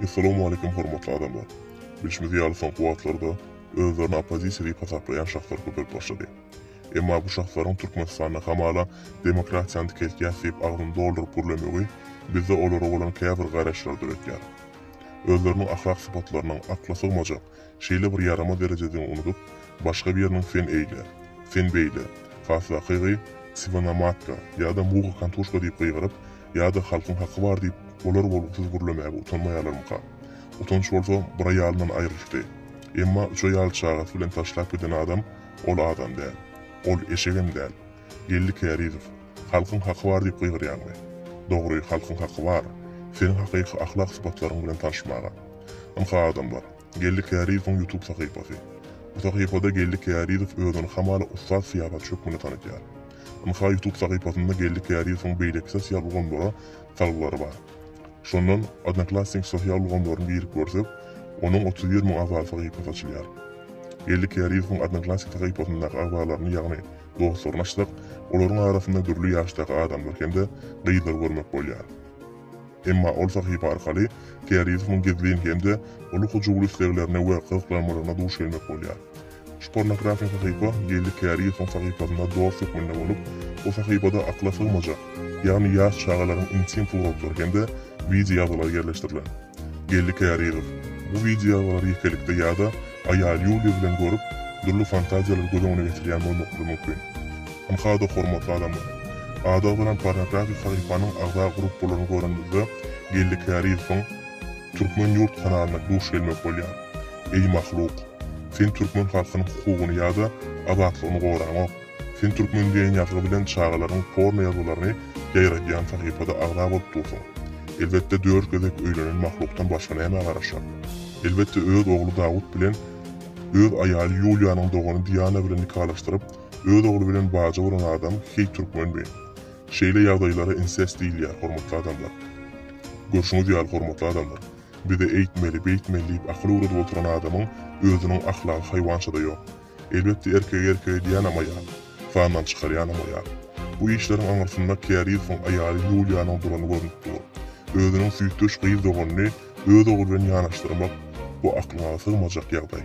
Essalamu Aleýkum hormatly adamlar! Bilşimiz ýaly soňky wagtlarda özlerini oppozisiýa diýip hasaplaýan şahslar köpelip başlady. Emma bu şahslaryň Türkmenistanda hamala demokratiýany dikeltýäs diýip agzyny dolduryp gürlemegi bizde olara bolan käbir garaýyşlary döretýär. Özleriniň ahlak sypatlarynyň akla sygmajak, Şeýle bir ýaramaz derejede unudyp, başga biriniň sen eýle, sen beýle, hasakygy Siwanamatga ýa-da Muga Kantuşka diýip gygyryp, ýa-da Halkyň haky bar diýip, bolar-bolgusyz gürlemäge utanmaýarlarmyka? Utanç bolsa bir aýalyndan aýrylyşdy. Emma üç aýaly çagasy bilen taşlap giden adam ol adam däl. Ol eşegem däl. Geldi Kärizow. Halkyň haky bar diýip gygyrýaňmy? Dogry, halkyň haky bar, seniň hakyky ahlak sypatlaryň bilen taryşmaga. Ynha adamlar, Geldi Kärizowyň ýutub sahypasy. Bu sahypada Geldi Kärizow özüni hamala ussat syýasatçy hökmünde tanydýar. Ynha ýutub sahypasynda Geldi Kärizowyň beýleki sosial ulgamlara salgylary bar. Şondan Odnoklassniki sosial ulgamlaryny girip görsek, onuň otuz bir müň agzaly sahypasy açylýar. Geldi Kärizowyň Odnoklassniki sahypasyndaky agzalaryny ýagny, dostluglaşdyk, olaryň arasynda dürli ýaşdaky adamlar hem-de gyzlar görmek bolýar. Emma ol sahypa arkaly Teorizowyň gizlin hem-de uly hyjuwly isleglerine we gyzyklanmalaryna duş gelmek bolýar. Şu pornografik sahypa geldi Teorizowyň sahypasynda dost hökmünde bolup, bu sahypada akyla sygmajak, ýagny ýaş çagalaryň intim suratlary hem-de wideo ýazgylary ýerleşdirilen. Geldi Kärizow. Bu wideoalary ýekelikde ýa-da aýaly Ýuliýa bilen görüp, dürli fantaziýalary göz öňüne getirýän bolmaklygy mümkin. Ynhada hormatly adamlar. Ady agzalan pornografik sahypanyň agza gruppalaryny görenimizde Geldi Kärizowyň Türkmen ýurt kanalyna duş gelmek bolýar. Eý mahluk! Sen türkmen halkynyň hukugyny ýa-da azatlygyny goraňok. Sen Türkmen diýen ýazgy bilen çagalaryň porno ýazgylaryny ýaýradýan sahypada agza bolup dursuň. Elbetde dört gezek öýlenen mahlukdan başga nämä garaşar? Elbetde öz ogly Dawut bilen öz aýaly Ýuliýanyň dogany Diana bilen nikalaşdyryp, öz ogly bilen baja bolan adam heý türkmenmi? Şeýle ýagdaýlara insest diýilýär hormatly adamlar. Görşüňiz ýaly hormatly adamlar. Bize eýtmeli, beýtmeli diýip akyl öwredip oturan adamyň özüniň ahlagy haýwançada ýok. Elbetde erkegi erkege diýýänam aýal. Sandan çykarýanam aýal. Bu işleriň aňyrsynda Kärizowyň aýaly Ýuliýanyň durany görnüp dur. Özüniň süýtdeş gyz doganyny öz ogly bilen ýanaşdyrmak, bu aklyňa sygmajak ýagdaý.